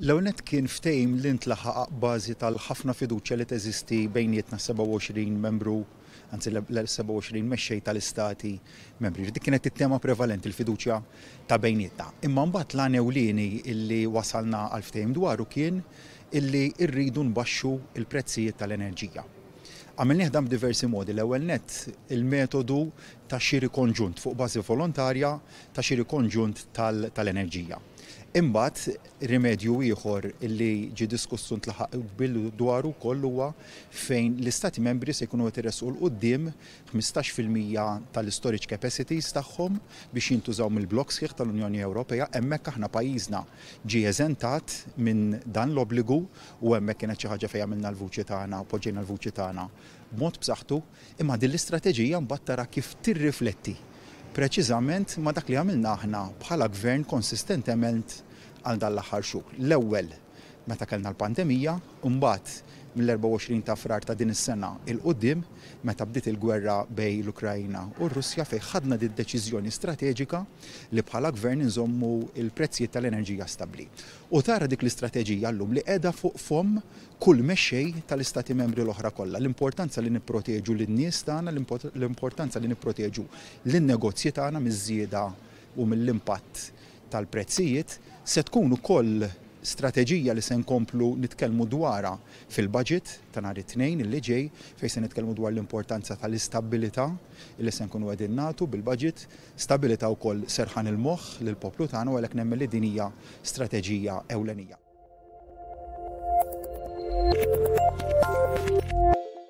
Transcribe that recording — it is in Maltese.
L-ewnet kien ftejm li ntlaħaq bażi tal-ħafna fiduċja li teżisti bejnietna 27 membru, anzi l-27 mexxej tal-istati membri. Dik kienet it-tema prevalenti l-fiduċja ta' bejnietna. Imma mbagħad l ewlieni illi wasalna għal ftejm dwaru kien illi rridu nbaxxu il-prezzijiet tal-enerġija. Għamilnieh dan b'diversi modi. L-ewwel nett il-metodu ta' xiri konġunt fuq bażi volontarja ta' xiri konġunt tal-enerġija. Imbagħad, rimedju ieħor li ġie diskuss u ntlaħaq qbil dwaru wkoll huwa fejn l-Istati Membri se jkunu qed iressqu 'l quddiem ħmistax fil-mija tal-istorage capacities tagħhom biex jintużaw mill-blokk sħiħ tal-Unjoni Ewropea. Hemmhekk aħna pajjiżna ġie eżentat minn dan l-obbligu u hemmhekk kienet xi ħaġa fejn għamilna l-vuċi tagħna u poġġejna l-vuċi tagħna b'mod b'saħħtu. Imma din l-istrateġija mbagħad tara kif tirrifletti preċiżament ma' dak li għamilna aħna bħala Gvern konsistentement għal dan l-aħħar xhur. L-ewwel meta kellna l-pandemija, u mbagħad mill-24 ta' Frar ta' din is-sena 'l quddiem meta bdiet il-gwerra bejn l-Ukraina u r-Russja fejn ħadna d-deċiżjoni strateġika li bħala Gvern inżommu l-prezzijiet tal-enerġija stabbli. u tara dik l-istrateġija llum li qiegħda fuq fomm kull mexxej tal-Istati Membri l-oħra kollha, l-importanza li nipproteġu lin-nies tagħna, l-importanza li nipproteġu lin-negozji tagħna miż-żieda u mill-impatt tal-prezzijiet, se tkun ukoll strateġija li se nkomplu nitkellmu dwarha fil-Budget ta' nhar it-Tnejn li ġej fejn se nitkellmu dwar l-importanza tal-istabbilità li se nkunu qegħdin nagħtu bil-Budget. Stabilità wkoll serħan il-moħħ lill-poplu tagħna u għalhekk nemmen li din hija strateġija ewlenija.